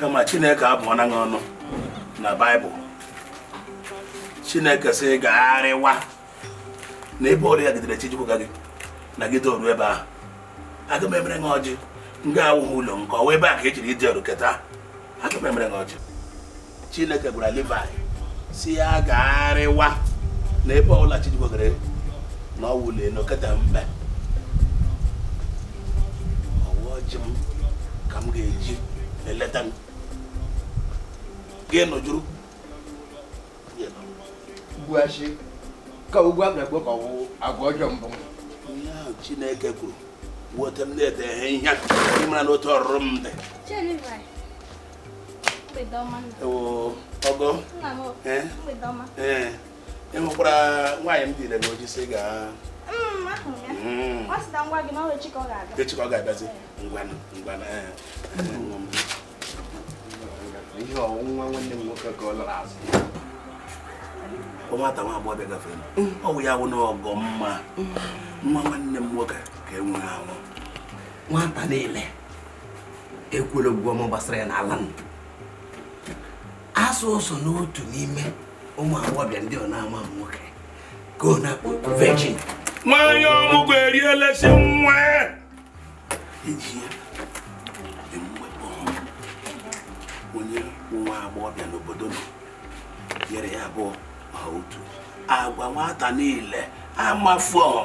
kama chineke abụọna ha ọnụ na baịbụl chineke sị gagharịwa na ebe ọbụla gidere chi jikwuo gị na gị toru ebe ahụ aga m emere gị ọjị nga awụghị ụlọ nke ọ wụ ebe a ka ejiri ịdị ọrụ keta aga m emere gị ọjị chineke gwara Livaị sị ya gagharịwa na ebe ọbụla chi jigogere na ọ wụlie na oketa mbe ọ wụ ọjị m ka m ga-eji eleta m gị nọjụrụ gbuachi ka ugwu abịa gbuo ka ọ wụ agwa ọjọọ mbụ ihe ahụ chineke kwuru weta m na-ete ihe ihe ị mara na otu ọrụrụ m dị ọgọ ee ị hụkwara nwaanyị m dịire m oji sị gaa echi ka ọ ga-abịazi ngwanụ ngwanụ ihe ọ wụ nwa nwanne m nwoke ka ọ lara azụ nwata nwa agbọghọbịa gafere ọ wụ ya wụ na ọgọ mma nwa nwanne m nwoke ka e nwere anwụ nwata niile ekwere okwu ọma gbasara ya n'ala m asụ ụzọ n'otu n'ime ụmụ agbọghọbịa ndị ọ na-amaghị nwoke ka ọ na-akpọ virgin nwanyị ọmụgwọ erielesi nwa eji ya emume kpọọ onye nwa agbọghọbịa n'obodo unu nyere ya abụọ ma otu agwa nwata niile amafu ọhụ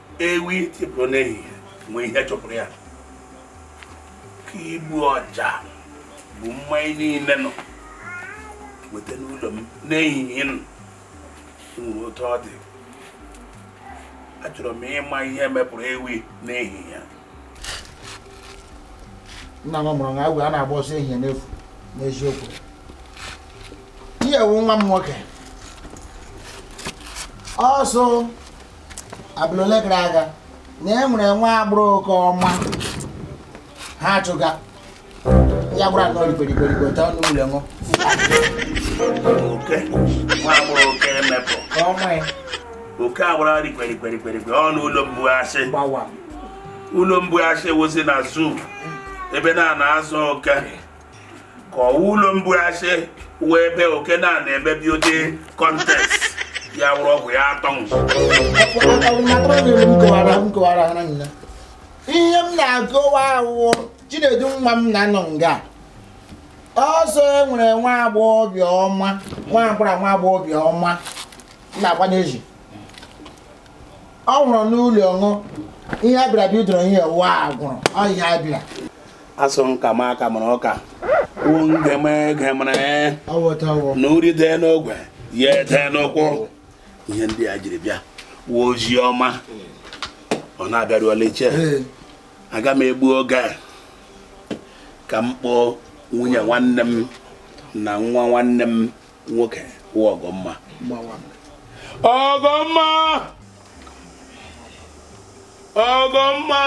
ewi tipụrụ n'ehihie nwere ihe chụpụrụ ya ka igbu ọja bụ mmanya niile unu weta n'ụlọ m n'ehihie na o nwere otu ọ dị achọrọ m ịma ihe mepụrụ ewi n'ehihie nna m mụrụ na awọ anaghị agba ọsọ ehihie n'efu n'eziokwu ihe wu nwa m nwoke ọsọ abalị ole gara aga na e nwere nwa agbụrụ oke ọma ha achụga ya gbara nọ rikorikorigo ta ọnụ ụlọ unu oke nwa agbụrụ oke emepụ ka ọ nwee oke agbara rikwerikwerikwerikwe ọnụ ụlọ mgbu asị gbawa ụlọ mgbu asị wụzi na zoo ebe a na-azụ oke ka ọ wụ ụlọ mgbu asị wụ ebe oke na-eme beauty contest ya wụrụ ọgwụ ya atọ ihe m na-akọwa wụ chinedu nwa m na nọ nga ọsọ e nwere nwa agbọghọbịa ọma nwa agbara nwa agbọghọbịa ọma na-agba n'ezi ọ nwụrụ n'ụlọ unu ihe abịara bidoro ihe wa gwụrụ ọ ihe abịara asụ nka m aka mara ọka kwuo ngeme ege mara na uri dee n'ogwe ya dee n'ụkwụ ihe ndị a jiri bịa wụ ozi ọma unu abịaruola oche aga m egbu oge ka m kpọọ nwunye nwanne m na nwa nwanne m nwoke wụ ọgọmma ọgọmma ọgọmma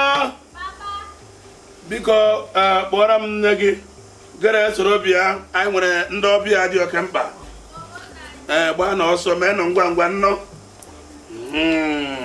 biko e, kpọrọ m nne gị gere soro bịa anyị nwere ndị ọbịa dị oke mkpa ee eh, gbaa nụ ọsọ mee nụ ngwa ngwa nnọọ hmm.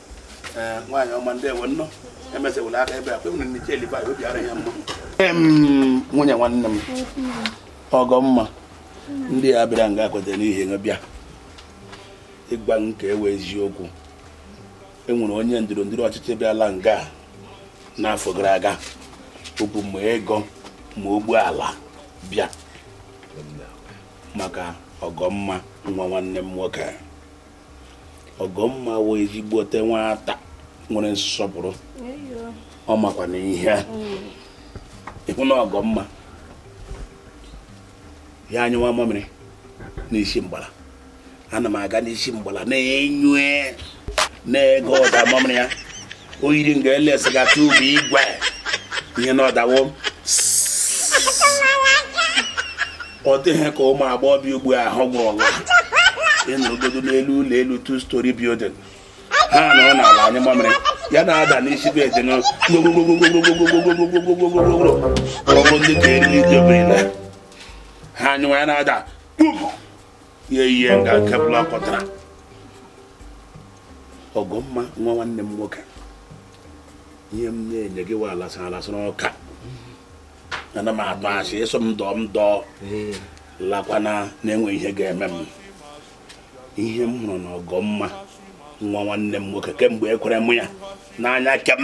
eh, nwaanyị ọma ndeewo nnọọ emesewula aka ebe a kwe nwere nche eliba obi ara ya mma nwunye nwanne m ọgọmma ndị a bịara nga kwetara n'ihe ha bịa ịgwa m ga-awụ eziokwu enwere onye ndọrọndọrọ ọchịchị bịala nga n'afọ gara aga o bu ma ego ma ụgbọ ala bịa maka ọgọmma nwa nwanne m nwoke ọgọmma wụ ezigbote nwata nwere nsọpụrụ ọ makwa na ihe ịhụ na ọgọmma ya anyụwa mamịrị n'isi mgbala ana m aga n'isi mgbala na-enyo na-ege ụda mamịrị ya o yiri nga elesi ga tụ bụ igwe ya na-ada wo ọ dịghị ka ụmụ agbọghọbịa ugbu a ahụ gwụrụla ịnọgodo n'elu ụlọ elu two story building ha nọrọ n'ala anyụ mamịrị ya na-ada n'isi bụ eje n'ọrụ ndị ka eriri indomie ha anyụwa ya na-ada kpum ihe ihe nga kebụl akọtara ọgọmma nwa nwanne m nwoke ihe m na-enye gị wa alasara alasara ọka ana m atụ asị ịsọ m dọọ m dọọ lakwana na-enwe ihe ga-eme m ihe m hụrụ na ọgọmma nwa nwanne m nwoke kemgbe ekwere m ya n'anya kem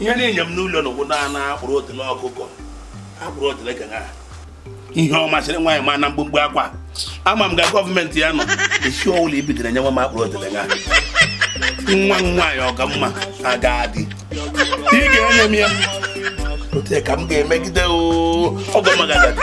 ihe na-enye m n'ụlọ n'ụkwụ na akpụrụ otele ọkụkọ akpụrụ otele ka ha ihe ọ masịrị nwaanyị ma na mgbumgbu akwa ama m ga gọọmenti ya nọ esi ọwụla ibitere nyenwe m akpụrụ otele ha nwa nwaanyị ọgọmma aga adị ị ga-enye m ya ote ka m ga-emegide ọgọmma agadi